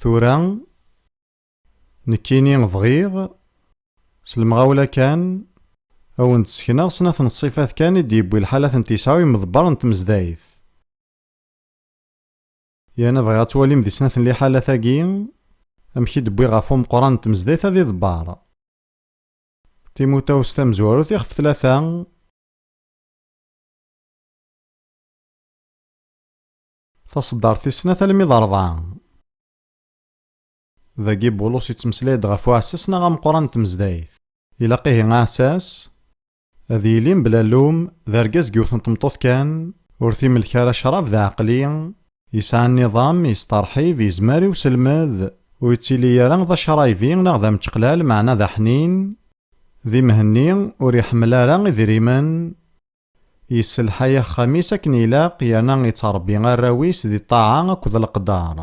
Tura nekkini bɣiɣ s lemɣawla kan ad wen-d-ssekneɣ snat n ṣṣifat kan i d-yewwi lḥalat n Tisɛa u Imḍebber n Tmezdayt. Yana bɣiɣ ad twalim di snat n liḥalat-agi amek i d-wwiɣ ɣef umeqqran n tmezdayt-a d iḍebbar. Timutawest tamezwarut ixef tlata. Taṣeddart tis snat almi d rebɛa. Dagi Bulus yettmeslay-d ɣef uɛessas neɣ ameqqran n tmezdayt. Ilaq ihi aɛessas Ad yili mebla llum d argaz deg yiwet n tmeṭṭut kan, ur t-imelk ara ccrab d aɛeqli, yesɛa nniḍam, yesteṛḥib, yezmer i uselmed, ur yettili ara d acṛaybi neɣ d ameččeqlal meɛna d aḥnin, di Mhenni ur iḥemmel ara idrimen, yesselḥay axxam-is akken ilaq yerna yettṛebbi arraw-is di ṭṭaɛa akked leqder.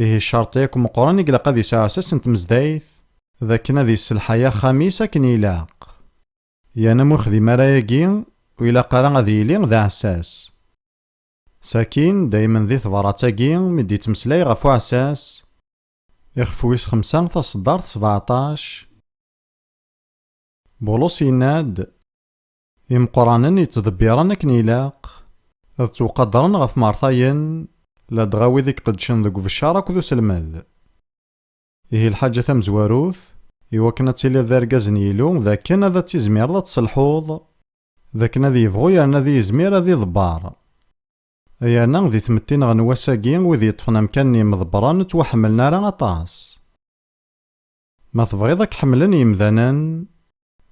Ihi ccerṭ yakk meqqren i ilaq ad yesɛu asas n tmezdayt d akken ad yesselḥay axxam-is akken ilaq. Yan am uxdim ara yagi ur ilaq ara ad yili d aɛessas. Sakin, daymen di tebrat-agi mi d-yettmeslay ɣef uɛessas, ixef wis xemsa taṣeddart sebeɛṭac, Bulus yenna-d, Imeqqranen yettḍebbiren akken ilaq, ad ttwqadren ɣef Mertayen, ladɣa wid i iqeddcen deg ubeccar akked uselmed. Ihi lḥaǧa tamezwarut, i wakken ad tiliḍ d argaz n Yilu, d akken ad ad tizmireḍ ad tselḥuḍ, d akken ad yebɣu yerna ad yizmir ad iḍebber. Ay ana di tmetti neɣ n wass-agi wid yeṭṭfen amkan n yimḍebbren ur ttwaḥemmlen ara aṭas. Ma tebɣiḍ ad k-ḥemmlen yemdanen,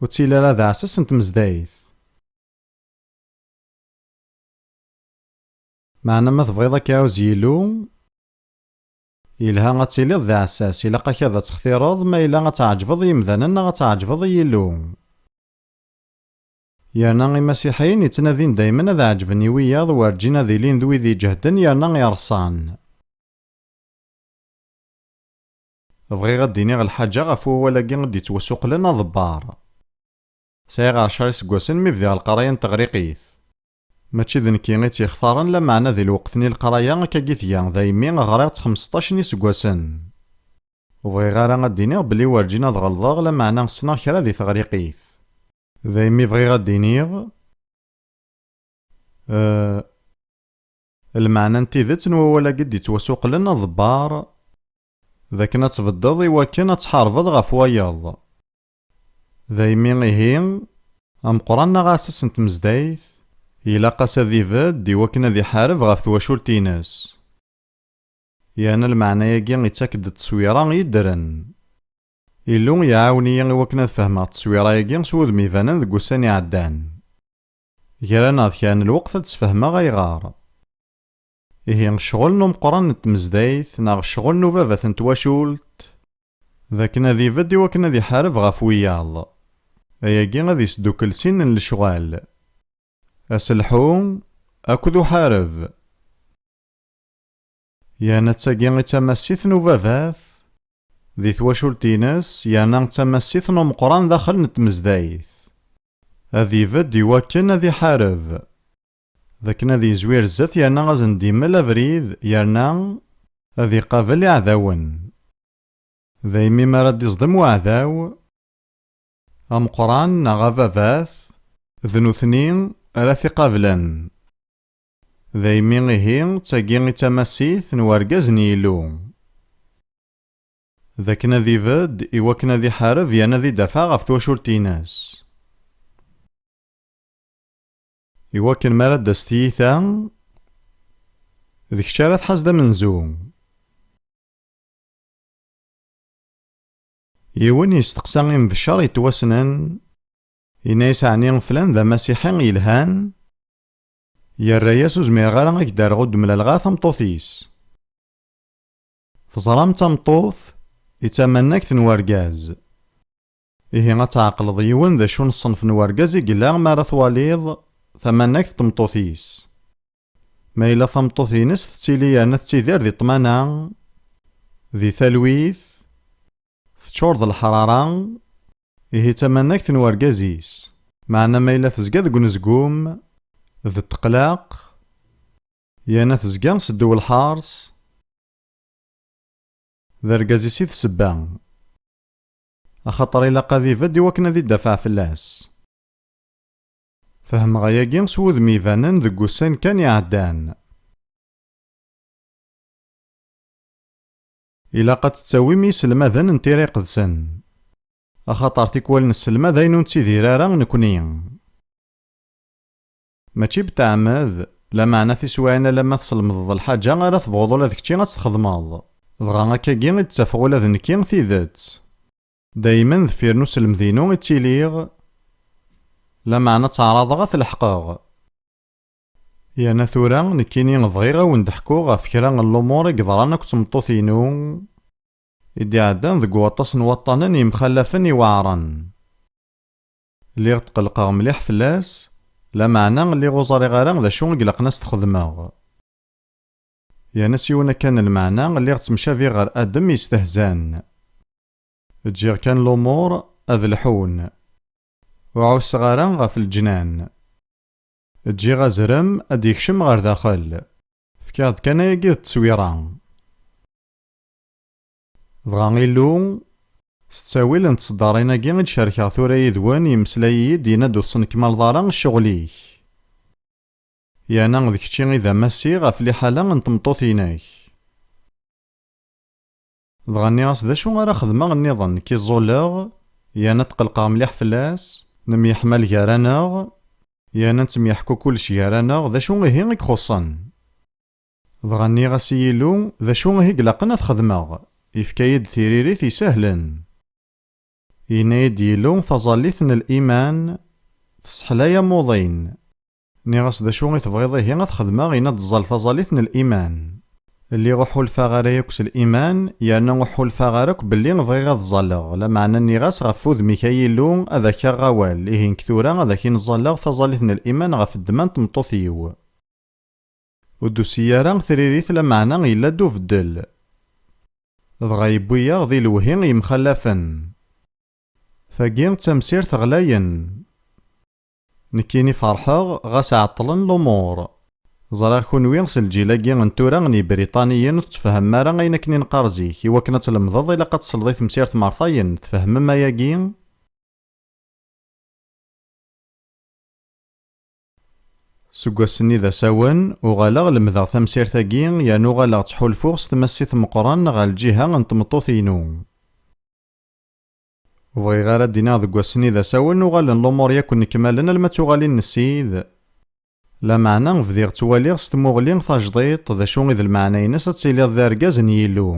ur ttili ara d aɛessas n tmezdayt. Meɛna ma tebɣiḍ ad k-iɛuzz Yillu, yelha ad tiliḍ d aɛessas, ilaq-ak ad textireḍ ma yella ad tɛeǧbeḍ i yemdanen neɣ ad tɛeǧbeḍ i Yillu. Yerna Imasiḥiyen yettnadin daymen ad ɛeǧben i wiyaḍ werǧin ad ilin d wid iǧehden yerna ireṣṣan. Bɣiɣ ad d-iniɣ lḥaǧa ɣef wawal-agi i d-yettwasuqlen aḍebbar. Sɛiɣ ɛecra iseggasen mi bdiɣ leqraya n teɣriqit. Mačči d nekki i tt-yextaren, lameɛna di lweqt-nni leqraya akka i tga, daymi ɣriɣ-tt xemseṭṭac n yiseggasen. Ur bɣiɣ ara ad d-iniɣ belli werǧin ad ɣelḍeɣ, lameɛna ssneɣ kra di teɣriqit. Daymi bɣiɣ ad d-iniɣ eh, lmeɛna n tidet n wawal-agi i d-yettwasuqlen aḍebbar. D akken ad tbeddeḍ i wakken ad tḥarbeḍ ɣef wayeḍ. Daymi ihi, ameqqran neɣ aɛessas n tmezdayt, ilaq-as ad ibedd i wakken ad iḥareb ɣef twacult-ines. Yerna lmeɛna-agi ittak-d tteswira i ddren. Illu iɛawen-iyi i wakken ad fehmeɣ tteswira-agi s wudem ibanen deg wussan iɛeddan. Gra neɣ d kra n lweqt ad d-sfehmeɣ ayɣer. Ihi ccɣel n umeqqran n tmezdayt neɣ ccɣel n ubabat n twacult d akken ad ibedd i wakken ad iḥareb ɣef wiyaḍ. Ayagi ad isdukkel sin n lecɣal, aselḥu akked uḥareb. Yerna d tagi i d tamassit n ubabat di twacult-ines yerna d tamassit n umeqqran daxel n tmezdayt. Ad ibedd i wakken ad iḥareb. d akken ad yezwir zdat yerna ad sen-d-yemmel abrid yerna ad iqabel iɛdawen. Daymi mi ara d-iẓdem uɛdaw ameqqran neɣ ababat, d nutni ara t-iqablen. Daymi ihi d tagi i d tamasit n urgaz n Yillu, d akken ad ibedd i wakken ad iḥareb yerna ad idafeɛ ɣef twacult-ines. Iwakken mi ara d-tas tiyita, d kečč ara tḥaz d amenzu. Yiwen yesteqsa imebcer yettwassnen, yenna-as ɛni flan d amasiḥi yelhan? Yerra-as ur zmireɣ ara a k-d-rreɣ ur d-mlaleɣ ara tameṭṭut-is. Teẓram d tameṭṭut i d tamannagt n urgaz. Ihi ad tɛeqleḍ yiwen d acu n ṣṣenf n urgaz i yella mi ara twaliḍ tamanagt n tmeṭṭut-is. Ma yella tameṭṭut-ines tettili yerna tettidir di ṭṭmana, di talwit, teččur d leḥrara, ihi d tamanagt n urgaz-is. Meɛna ma yella tezga deg unezgum d ṭṭeqlaq, yerna tezga s ddew lḥers, d argaz-is i d ssebba. Axaṭer ilaq ad ibedd iwakken ad idafeɛ fell-as. Fehmeɣ ayagi s wudem ibanen deg wussan kan iɛeddan. Ilaq ad tettawim iselmaden n tira iqedsen. Axaṭer tikwal nesselmad ayen ur nettidir ara nekni. Mačči betɛemmed, lameɛna tiswaɛin alamma teslemdeḍ lḥaǧa ara tebɣuḍ ula d kečči ad tt-txedmeḍ. Dɣa akkagi i d-ttafeɣ ula d nekki tidet. Daymen deffir n uselmed-inu i ttiliɣ, lameɛna ttaɛraḍeɣ ad t-leḥqeɣ. Yerna tura, nekkini bɣiɣ ad wen-d-ḥkuɣ ɣef kra n lumuṛ i yeḍran akked tmeṭṭut-inu i d-iɛeddan deg waṭas n waṭṭanen yemxallafen iweɛṛen. Lliɣ tqelqeɣ mliḥ fell-as, lameɛna lliɣ ur ẓriɣ ara d acu i ilaqen a s-t-xedmeɣ. Yerna s yiwen akka n lmeɛna lliɣ ttemcabiɣ ɣer Adem yestehzan. Ǧǧiɣ kan lumuṛ ad lḥun. Ur ɛusseɣ ara ɣef leǧnan. Ǧǧiɣ azrem ad d-yekcem ɣer daxel. Fkiɣ-d kan ayagi d tteswira. Dɣa Illu, s ttawil n tseddarin-agi i d-cerkeɣ tura yid-wen, yemmeslay-iyi-d, yenna-d ur tesnekmaleḍ ara ccɣel-ik. Yerna d kečči i d amassi ɣef liḥala n tmeṭṭut-inek. Dɣa nniɣ-as d acu ara xedmeɣ nniḍen, nekk i ẓẓulleɣ, yerna tqellqeɣ mliḥ fell-as, nemyeḥmal gar-aneɣ, yerna nettemyeḥku kullec gar-aneɣ, d acu ihi i ixuṣṣen? Dɣa nniɣ-as i Yillu, D acu ihi ilaqen ad t-xedmeɣ? Yefka-yi-d tiririt isehlen. Yenna-yi-d Yillu, Taẓallit n liman tesseḥlay amuḍin. Nniɣ-as, D acu i tebɣiḍ ihi ad t-xedmeɣ? Yenna-d, Ẓẓal taẓallit n liman. Lliɣ ur ḥulfaɣ ara yakk s liman, yerna ur ḥulfaɣ ara akk belli bɣiɣ ad ẓẓaleɣ. Lameɛna nniɣ-as, Ɣef wudem-ik a Yillu, ad ak-aɣeɣ awal, ihi nekk tura ad ak-in-ẓẓaleɣ taẓallit n liman ɣef ddemma n tmeṭṭut-iw. Ur d-tusi ara tririt lameɛna yella-d ubeddel. Dɣa yewwi-yaɣ di lewhi yemxallafen. Tagi d tamsirt ɣlayen. Nekkini ferḥeɣ ɣas ɛeṭṭlen lumuṛ. Ẓriɣ kunwi s lǧil-agi n tura n Yibriṭaniyen ur tettfehemem ara ayen akken i neqqar zik, i wakken ad tlemdeḍ ilaq ad tesleḍ i temsirt meṛtayen, tfehmem ayagi? Seg wass-nni d asawen, uɣaleɣ lemdeɣ tamsirt-agi yerna uɣaleɣ ttḥulfuɣ s tmassit meqqren ɣer lǧiha n tmeṭṭut-inu. Ur bɣiɣ ara ad d-iniɣ deg wass-nni d asawen uɣalen lumuṛ yakk nnekmalen alma d tuɣalin n Ssid, lameɛna bdiɣ ttwaliɣ s tmuɣli tajḍiṭ d acu i d lmeɛna-ines ad tiliḍ d argaz n Yillu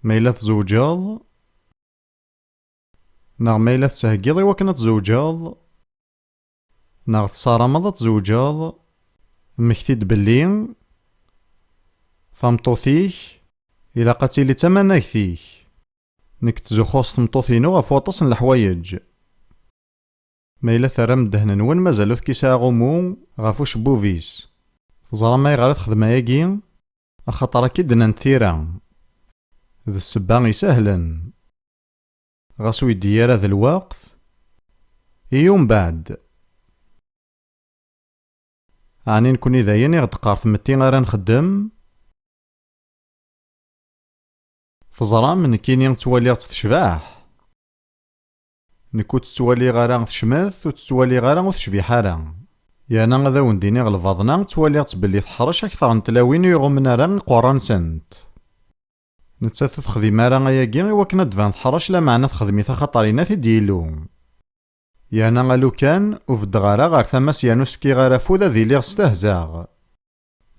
ma yella tzewǧeḍ. Neɣ ma yella tettheggiḍ i wakken ad tzewǧeḍ, neɣ tessarameḍ ad tzewǧeḍ, mmekti-d belli tameṭṭut-ik ilaq ad tili d tamanagt-ik. Nekk ttzuxxuɣ s tmeṭṭut-inu ɣef waṭas n leḥwayeǧ. Ma yella terram ddehn-nwen mazal ur tekkis aɛumu ɣef ucebbub-is. Teẓram ayɣer i texdem ayagi? Axaṭer akka i d-nnant tira. D ssebba isehlen. Ɣas ur yeddi ara d lweqt, i umbeɛd? Ɛni nekkni d ayen i ɣ-d-teqqar tmetti ara nxeddem? Teẓram, nekkini ttwaliɣ-tt tecbeḥ. Nekk ur tt-ttwaliɣ ara tecmet, ur tt-ttwaliɣ ara ur tecbiḥ ara. Yerna ad awen-d-iniɣ lbaḍna, ttwaliɣ-tt belli teḥṛec akteṛ n tlawin ur iɣummen ara iqweṛṛa-nsent. Nettat ur texdim ara ayagi i wakken ad d-ban teḥṛec lameɛna texdem-it axaṭer yenna-t-id Yillu. Yerna a lukan ur beddeɣ ara ɣer tama-s yerna ur s-fkiɣ ara afud ad iliɣ stehzaɣ.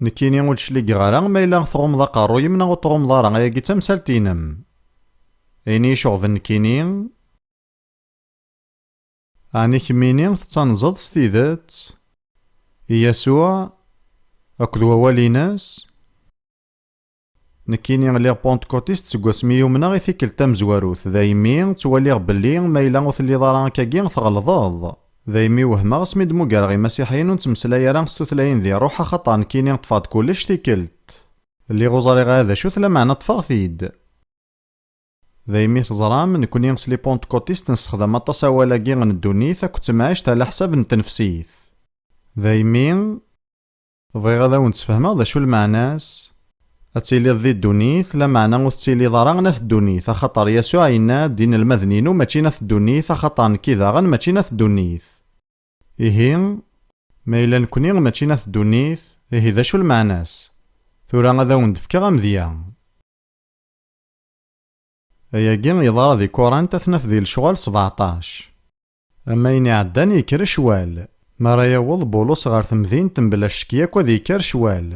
Nekkini ur d-cligeɣ ara ma yella tɣummeḍ aqerruy-im neɣ ur t-tɣummeḍ ara ayagi d tamsalt-inem. Ayen iyi-iceɣben nekkini. Ɛni kemmini tettanzeḍ s tidet i Yasuɛ akked wawal-ines? Nekkini lliɣ pontkotist seg wasmi yumneɣ i tikkelt tamezwarut, daymi ttwaliɣ belli ma yella ur telliḍ ara akkagi tɣelḍeḍ. Daymi wehmeɣ asmi d-muggareɣ imasiḥiyen ur nettmeslay ara s tutlayin di ṛuḥ axaṭer nekkini ṭṭfeɣ-d kullec tikkelt. Lliɣ ur ẓriɣ ara d acu-t lameɛna ṭṭfeɣ-t-id. Daymi teẓram, nekkni s lipontkotist nessexdam aṭas awal-agi n ddunit akked temɛict ɛlaḥsab n tnefsit. Daymi. Bɣiɣ ad awen-d-sfehmeɣ d acu lmeɛna-s. Ad tiliḍ di ddunit, lameɛna ur tettiliḍ ara n at ddunit, axaṭer Yasuɛ yenna-d, Inelmaden-inu mačči n at ddunit, axaṭer nekki daɣen mačči n at ddunit. Ihi, ma yella nekni mačči n at ddunit, ihi d acu lmeɛna-s? Tura ad awen-d-fkeɣ amedya. Ayagi yeḍra di Kurant, ad t-naf di Lecɣal sebeɛṭac. Am wayen iɛeddan yekker ccwal. Mi ara yaweḍ Bulus ɣer temdint, mebla ccek yakk ad yekker ccwal.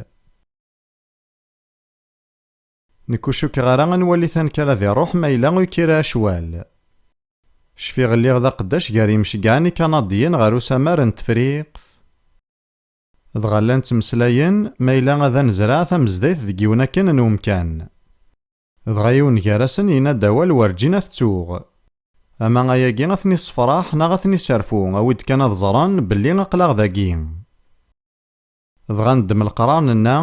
Nekk ur cukkeɣ ara ad nwali tanekkar ad iruḥ ma yella ur yekkir ara ccwal. Cfiɣ lliɣ d aqeddac gar yimceggɛen ikanadyen ɣer usamar n Tefriqt. Dɣa llan ttmeslayen ma yella ad anezreɛ tamezdayt deg yiwen akken n umkan. Dɣa yiwen gar-asen yenna-d awal werǧin ad t-ttuɣ. Ama ayagi ad ten-issefraḥ neɣ ad ten-isserfu, awi-d kan ad ẓren belli aql-aɣ dagi. Dɣa neddem leqrar nenna,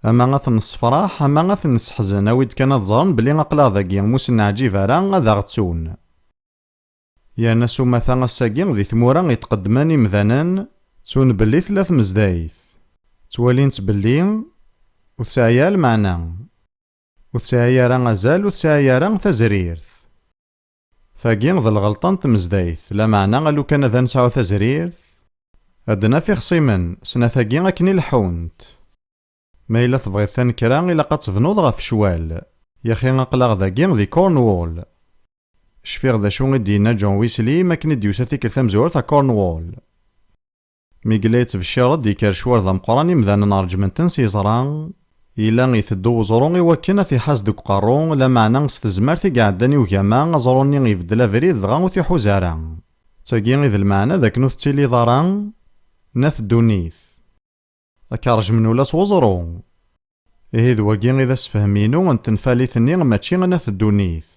Ama ad ten-nessefraḥ, ama ad ten-nesseḥzen, awi-d kan ad ẓren belli aql-aɣ dagi, m'u sen-neɛǧib ara, ad aɣ-ttun. Yerna s umata ass-agi di tmura i tqeddmen imdanen ttun belli tella tmezdayt, ttwalin-tt belli ur tesɛi ara lmeɛna, ur tesɛi ara azal ur tesɛi ara tazrirt. Tagi d lɣelṭa n tmezdayt, lameɛna alukan ad nesɛu tazrirt ad d-naf ixṣimen snat-agi akken i leḥḥunt. Ma yella tebɣiḍ tanekra, ilaq ad tebnuḍ ɣef ccwal. Yaxi aql-aɣ dagi di Cornwall. Cfiɣ d acu i d-yenna John Wesley mi akken i d-yusa tikkelt tamezwarut ɣer Cornwall. Mi yella yettbecciṛ-d yekker ccwal d ameqqran imdanen ṛejjmen-ten s yeẓra, yella iteddu weẓru i wakken ad t-iḥaz deg uqerru, lameɛna s tezmert i iɛeddan i ugama, aẓru-nni ibeddel abrid dɣa ur t-iḥuz ara. D tagi i d lmeɛna d akken ur tettiliḍ ara n at ddunit. Ad k-rejmen ula s weẓru. Ihi d wagi i d asefhem-inu n tenfalit-nni mačči n At Ddunit.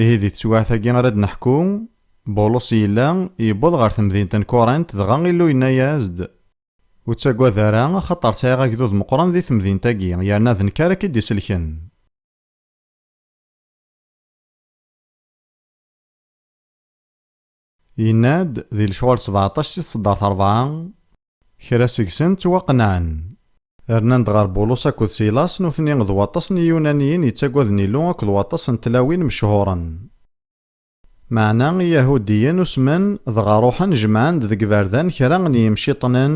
Ihi di teswiɛt-agi ara d-neḥku, Bulos yella, yewweḍ ɣer temdint n Kurint dɣa Illu yenna-as-d, Ur ttagad ara, axaṭer sɛiɣ agdud meqqren di temdint-agi, yerna d nekk ara k-id-iselken. Yenna-d di lecɣal sebeɛṭac si tseddart rebɛa, kra seg-sen ttwaqenɛen, rnan-d ɣer Bulus akked Silas, nutni d waṭas n Yiyunaniyen yettagaden Illu akked waṭas n tlawin mechuren. Meɛna Iyahudiyen usmen, dɣa ruḥen jemɛen-d deg iberdan kra n yimciṭnen,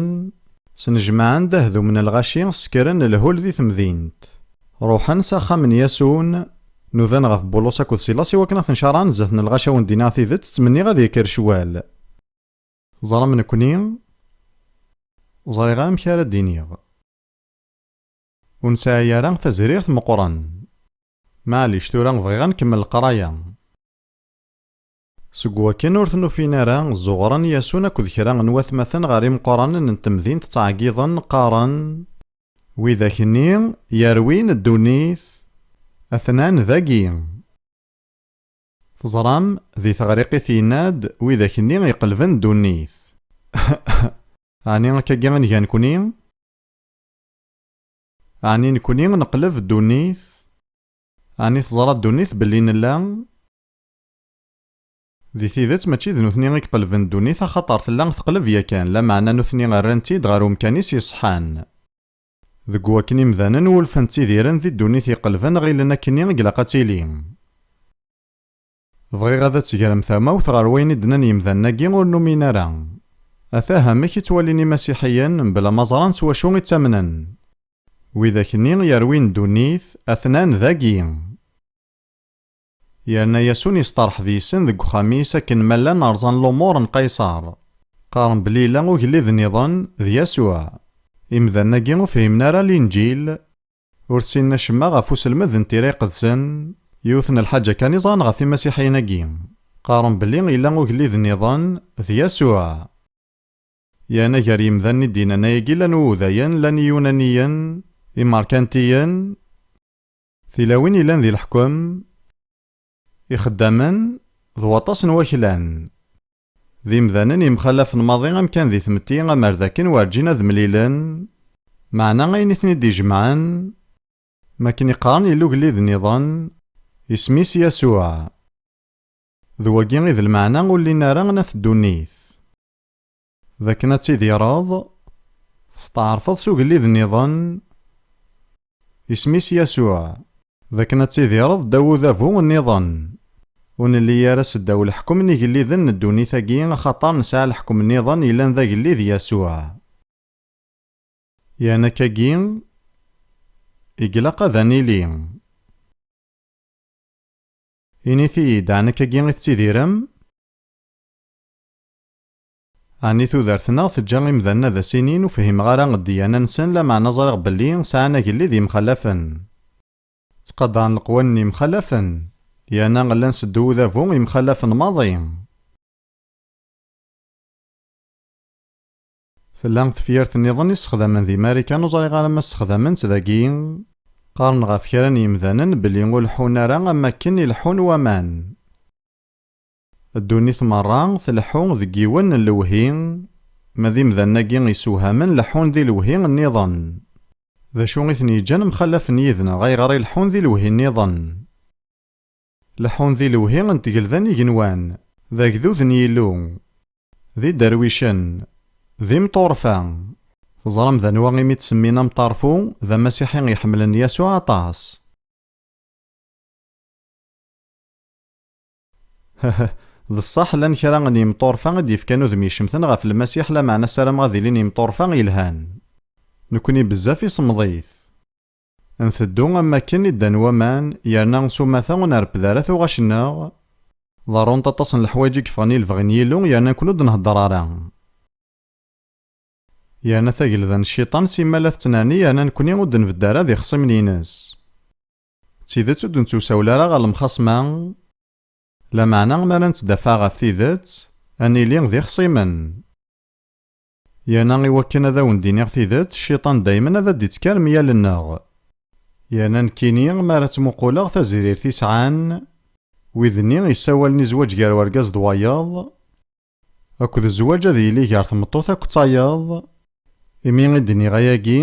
snejmaɛen-d ahdum n lɣaci, ssekren lhul di temdint, ruḥen s axxam n Yasun, Nudan ɣef Bulus akked Silas i wakken ad ten-caṛɛen zdat n lɣaci awen d-iniɣ tidet, ttmenniɣ ad yekker ccwal. Teẓram nekkni ur ẓriɣ amek ara d-iniɣ. Ur nesɛi ara tazrirt meqqren. Maɛlic, tura bɣiɣ ad nkemmel leqraya. Seg wakken ur ten-ufin ara, zuɣren Yasun akked kra n watmaten ɣer imeqqranen n temdint ttɛeggiḍen, qqaren. Widak-nni yerwin ddunit, atnan dagi. Teẓram, di teɣriqit yenna-d, Widak-nni iqelben ddunit. Ɛni akkagi i nga nekni? Ɛni nekni neqleb ddunit? Ɛni teẓra ddunit belli nella? Di tidet, mačči d nutni i iqelben ddunit axaṭer tella teqleb yakan, lameɛna nutni rran-tt-id ɣer umkan-is yeṣḥan. Deg wakken imdanen wulfen ttidiren di ddunit iqelben ɣilen akkenni i ilaq ad tili. Bɣiɣ ad d-tegrem tamawt ɣer wayen i d-nnan yimdanen-agi ur numin ara. Atah amek i ttwalin imasiḥiyen, mebla ma ẓran s wacu i ttamnen. Widak-nni yerwin ddunit, atnan dagi. Yerna Yasun yesteṛḥeb yes-sen deg uxxam-is akken ma llan rẓan lumuṛ n Qayṣer. Qqaren belli yella ugellid nniḍen, d Yasuɛ. Imdanen-agi ur fhimen ara Linǧil. Ur ssinen acemma ɣef uselmed n Tira Iqedsen. Yiwet n lḥaǧa kan i ẓran ɣef Imasiḥiyen-agi. Qqaren belli yella ugellid nniḍen, d Yasuɛ. Yerna gar yimdanen i d-yennan ayagi llan Uwudayen, llan Iyunaniyen, Imeṛkantiyen. Tilawin yellan di leḥkem, ixeddamen d waṭas n waklan, d imdanen yemxalafen maḍi amkan di tmetti amer d akken werǧin ad mlilen, meɛna ayen i ten-id-ijemɛen, mi akken i qqaren yella ugellid nniḍen, isem-is Yasuɛ. D wagi i d lmeɛna ur llin ara n At Ddunit. D akken ad tidireḍ testeɛṛfeḍ s ugellid nniḍen, Isem-is Yasuɛ. D akken ad tidireḍ ddaw udabu nniḍen, Ur nelli ara seddaw leḥkem n igelliden n ddunit-agi, axaṭer nesɛa leḥkem nniḍen yellan d agellid Yasuɛ. Yan akkagi i glaq ad anili. Init-iyi-d, ɛni akkagi i tettidirem? Ɛni tudert-nneɣ teǧǧa imdanen ad as-inin ur fhimeɣ ara ddiyana-nsen lameɛna ẓriɣ belli sɛan agellid yemxalafen. Ttqadaren leqwanen yemxalafen. Yerna llan seddu udabu yemxalafen maḍi. Tella tefyirt nniḍen i ssexdamen di Marikan ur ẓriɣ ara ma ssexdamen-tt dagi. Qqaren ɣef kra n yemdanen belli ur leḥḥun ara am wakken i leḥḥun waman. Ddunit merra tleḥḥu deg yiwen n lewhi, ma d imdanen-agi isewhamen leḥḥun di lewhi nniḍen. D acu i ten-yeǧǧan mxallafen yid-neɣ, ayɣer i leḥḥun di lewhi nniḍen? Leḥḥun di lewhi n tgelda n igenwan, d agdud n Yillu, d iderwicen, d imṭurfa. Teẓram d anwa i m-id-semmin amṭarfu? D Amasiḥi i iḥemmlen Yasuɛ aṭas. Heheh, d ṣṣeḥ llan kra n yimṭurfa i d-yefkan udem icemten ɣef Lmasiḥ, lameɛna ssarameɣ ad ilin yimṭurfa yelhan. Nekkni bezzaf i semmeḍit. Nteddu am wakken i ddan waman, yerna s umata ur nerped ara tuɣac-nneɣ. Ḍerrunt aṭas n leḥwayeǧ i yeffɣen i lebɣi n Yillu, yerna nekkni ur d-nheddeṛ ara. Yerna tagelda n Cciṭan simmal ad tettnerni yerna nekkni ur d-nbedd ara d ixṣimen-ines. D tidet ur d-nettuwsawel ara ɣer lemxasma, lameɛna mi ara nettdafaɛ ɣef tidet, ad nili d ixṣimen. Yerna i wakken ad awen-d-iniɣ tidet, cciṭan daymen ad d-ittkar meyal-nneɣ. Yerna nekkini, mi ara ttmuquleɣ tazirirt i sɛan wid-nni yessawalen i zzwaǧ gar urgaz d wayeḍ, akked zzwaǧ ad yili gar tmeṭṭut akked tayeḍ, imi i d-nniɣ ayagi,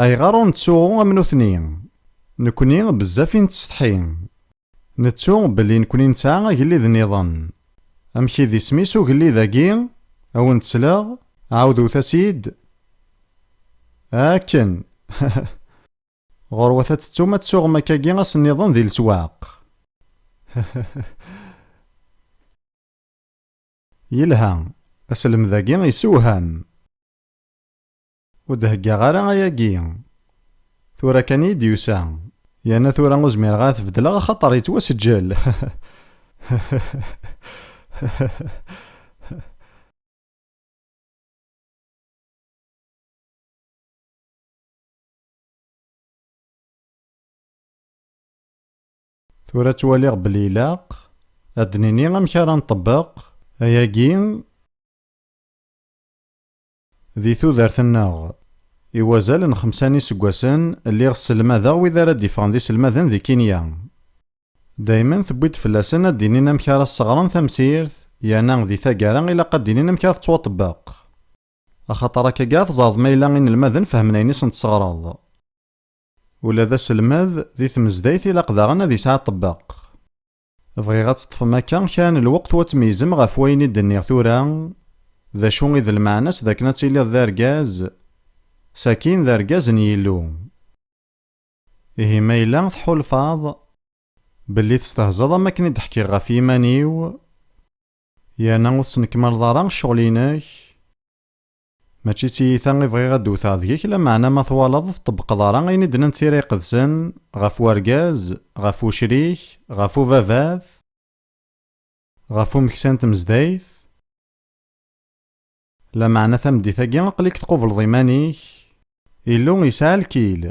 Ayɣer ur nettsuɣu am nutni? Nekkni bezzaf i nettsetḥi. Nettu belli nekkni nesɛa agellid niḍen. Amek i d isem-is ugellid-agi? A wen-d-sleɣ, ɛawdwet-as-id. Akken! Ɣurwat ad tettum ad tsuɣem akkagi ass niḍen di leswaq. Yelha, aselmed-agi yessewham. Ur d-heggaɣ ara ayagi. Tura kan iyi d-yusa. Yerna tura ur zmireɣ ara t-beddleɣ axaṭer yettwaseǧǧel. Tura ttwaliɣ belli ilaq ad d-nini amek ara nṭebbeq ayagi. Di tudert-nneɣ, i wazal n xemsa n yiseggasen, lliɣ sselmadeɣ wid ara d-yeffɣen d iselmaden di Kinya. Daymen tewwi-d fell-asen ad d-inin amek ara sseɣren tamsirt, yerna di taggara ilaq ad d-inin amek ara tettwaṭebbeq. Axaṭer akkaga ad teẓreḍ ma yella inelmaden fehmen ayen i sen-tesseɣreḍ. Ula d aselmed, di tmezdayt ilaq daɣen ad yesɛi aṭebbeq. Bɣiɣ ad teṭṭfem akka kra n lweqt u ad tmeyyzem ɣef wayen i d-nniɣ tura, d acu i d lmeɛna-s d akken ad tiliḍ d argaz, sakin d argaz n Yillu. Ihi ma yella tḥulfaḍ belli testehzaḍ am wakken i d-ḥkiɣ ɣef yiman-iw, yerna ur tesnekmaleḍ ara ccɣel-inek, Mačči d tiyita i bɣiɣ ad d-wteɣ deg-k, lameɛna ma twalaḍ ur tṭebbqeḍ ara ayen i d-nnant tira iqedsen, ɣef urgaz, ɣef ucrik, ɣef ubabat, ɣef umeksa n tmezdayt, lameɛna tameddit-agi aql-ik tqubleḍ iman-ik, Illu yesɛa lkil,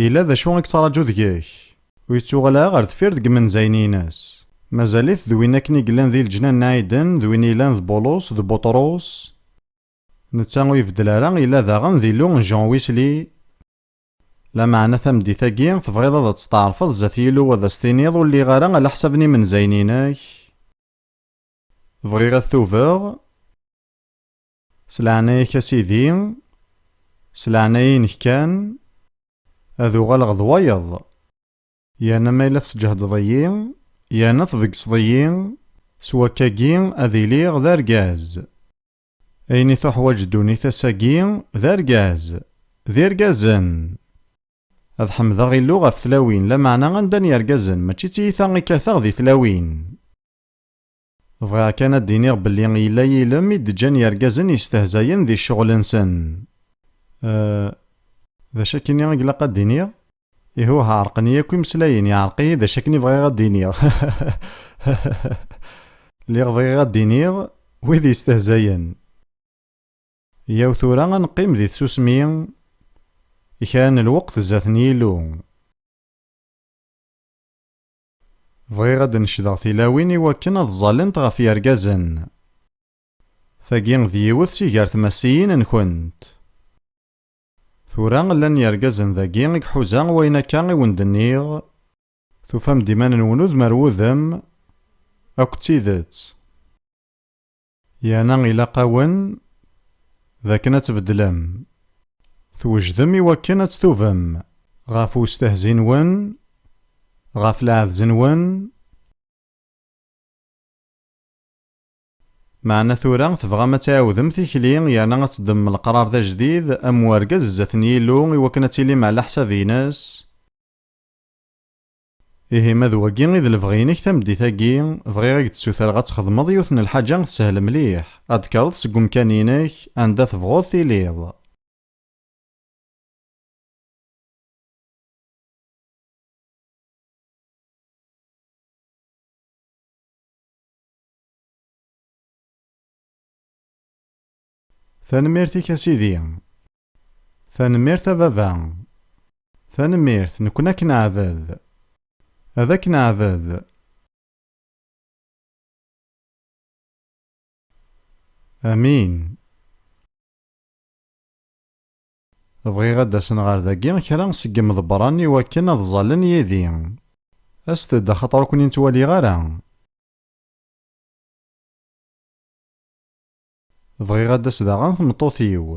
Yella d acu i yettṛaǧu deg-k. Ur yettuɣal ara ɣer deffir deg yimenzayen-ines. Mazal-it d win akken i yellan di leǧnan n Aiden d win yellan d Bulus d Buṭrus. Netta ur ibeddel ara, yella daɣen d Illu n Jean Wesley. Lameɛna tameddit-agi, tebɣiḍ ad testeɛṛfeḍ zdat Yillu ad as-tiniḍ ur lliɣ ara ala ḥsab n yimenzayen-inek. Bɣiɣ ad tubeɣ. S leɛnaya-k a Sidi, s leɛnaya-inek kan, ad uɣaleɣ d wayeḍ, yerna ma yella tesǧehdeḍ-iyi, yerna tbeggseḍ-iyi, s wakkagi ad iliɣ d argaz. Ayen i tuḥwaǧ ddunit ass-agi d argaz, d irgazen! Ad ḥemdeɣ Illu ɣef tlawin, lameɛna anda n yergazen, mačči d tiyita i kkateɣ di tlawin. Bɣiɣ kan ad d-iniɣ belli yella yilem i d-ǧǧan yergazen yestehzayen di ccɣel-nsen. Eh. D acu akkenni i glaq ad d-iniɣ? Ihuh, ɛerqen-iyi akk imeslayen, yeɛreq-iyi d acu akken i bɣiɣ ad d-iniɣ. Lliɣ bɣiɣ ad d-iniɣ wid yestehzayen. Yyaw tura ad neqqim di tsusmi i kra n lweqt zdat n Yillu. Bɣiɣ ad d-necdeɣ tilawin i wakken ad ẓẓalent ɣef yergazen. Tagi d yiwet si gar tmassiyin-nkent. Tura llan yergazen dagi i iḥuza wayen akka i wen-d-nniɣ? Tufam-d iman-nwen udem ar wudem? Akk d tidet? Yerna ilaq-awen d akken ad tbeddlem. Twejdem i wakken ad ttubem ɣef westehzi-nwen, ɣef lɛadz-nwen? Meɛna tura tebɣam ad tɛiwdem tikli yerna ad teddmem leqrar d ajdid am urgaz zdat n Yillu i wakken ad tilim ɛlaḥsab-ines? Ihi ma d wagi i d lebɣi-inek tameddit-agi, bɣiɣ i k-d-ssutreɣ ad txedmeḍ yiwet n lḥaǧa tessehel mliḥ, ad d-tekkreḍ seg umkan-inek anda tebɣuḍ tiliḍ. Tanemmirt-ik a Sidi. Tanemmirt a baba. Tanemmirt, nekkni ad k-neɛbed. Ad k-neɛbed. Amin. Bɣiɣ ad d-asen ɣer dagi kra seg yimḍebbren i wakken ad ẓallen yid-i. Aset-d axaṭer ur ken-in-ttwaliɣ ara. Bɣiɣ ad d-tas daɣen tmeṭṭut-iw.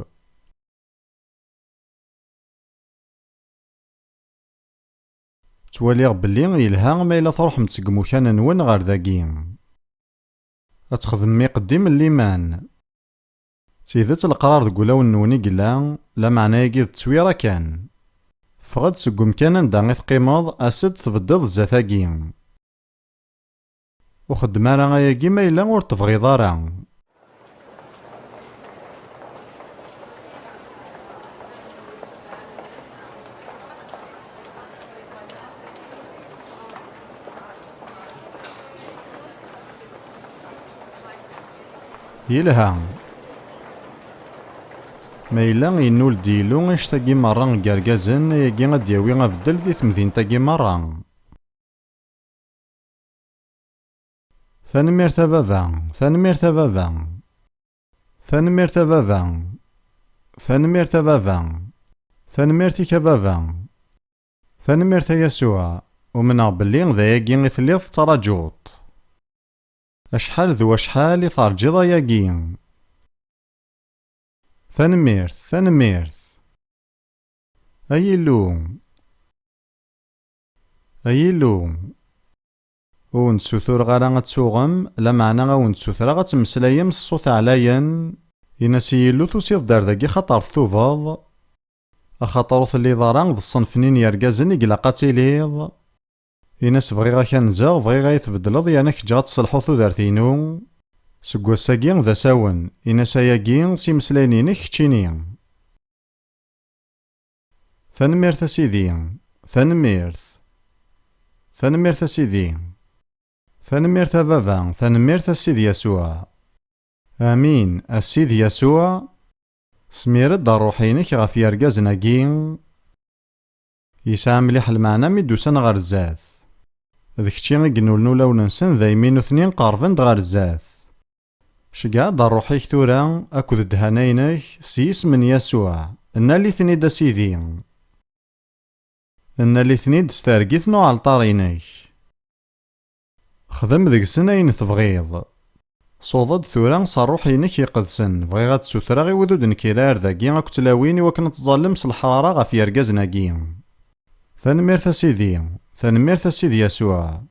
Ttwaliɣ belli yelha ma yella truḥem-d seg imukan-nwen ɣer dagi. Ad txedmem iqeddim n liman. D tidet leqrar deg wulawen-nwen i yella, lameɛna agi d ttwira kan. Ffeɣ-d seg umkan anda i teqqimeḍ, as-d tbeddiḍ zdat-agi. Ur xeddem ara ayagi ma yella ur tebɣiḍ ara. Yelha. Ma yella yennul-d yilu anect-agi merra n yergazen, ayagi ad d-yawi abeddel di temdint-agi merra. Tanemmirt a baba, tanemmirt a baba. Tanemmirt a baba. Tanemmirt a baba. Tanemmirt-ik a baba. Tanemmirt a Yasuɛ, umneɣ belli d ayagi i telliḍ tettrajuḍ-t. Acḥal d wacḥal i terǧiḍ ayagi. Tanemmirt, tanemmirt. Ay Illu! Ay Illu, ur wen-d-sutureɣ ara ad tuɣem, lameɛna ad wen-d-sutreɣ ad temmeslayem s ṣṣut ɛlayen, in-as i Yillu tusiḍ-d ar dagi xaṭer ttubeḍ, axaṭer ur telliḍ ara d ṣṣenf-nni n yergazen i ilaq ad tiliḍ, in-as bɣiɣ ad k-anzeɣ, bɣiɣ ad yi-tbeddleḍ yerna ad k-ǧǧeɣ ad tselḥuḍ tudert-inu, seg wass-agi d asawen, in-as ayagi s imeslayen-inek keččini. Tanemmirt a Sidi. Tanemmirt. Tanemmirt a Sidi. Tanemmirt a Baba. Tanemmirt a Sidi Yasuɛ. Amin, a Sidi Yasuɛ. Smir-d ṛṛuḥ-inek ɣef yergazen-agi. Yesɛa mliḥ lmeɛna mi d-usan ɣer zdat. D kečči i inulen ulawen-nsen daymi nutni qerben-d ɣer zdat. Ceggeɛ-d rruḥ-ik tura akked ddhana-inek s yisem n Yasuɛ, nnal-iten-id a Sidi. Nnal-iten-id s targit n uɛalṭar-inek. Xdem deg-sen ayen tebɣiḍ. Suḍ-d tura s rruḥ-inek iqedsen, bɣiɣ ad d-sutreɣ i wid ur d-nekkir ar dagi akk tlawin i wakken ad tẓallem s leḥrara ɣef yergazen-agi. Tanemmirt a Sidi! Tanemmirt a Sidi Yasuɛ!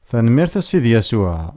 Tanemmirt a Sidi Yasuɛ!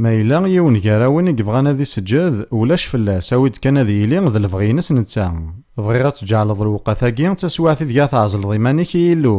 Ma yella yiwen gar-awen i yebɣan ad iseǧǧed, ulac fell-as, awi-d kan ad yili d lebɣi-ines netta. Bɣiɣ ad tǧeɛleḍ lewqat-agi d taswiɛt ideg ara tɛezleḍ iman-ik i Yillu.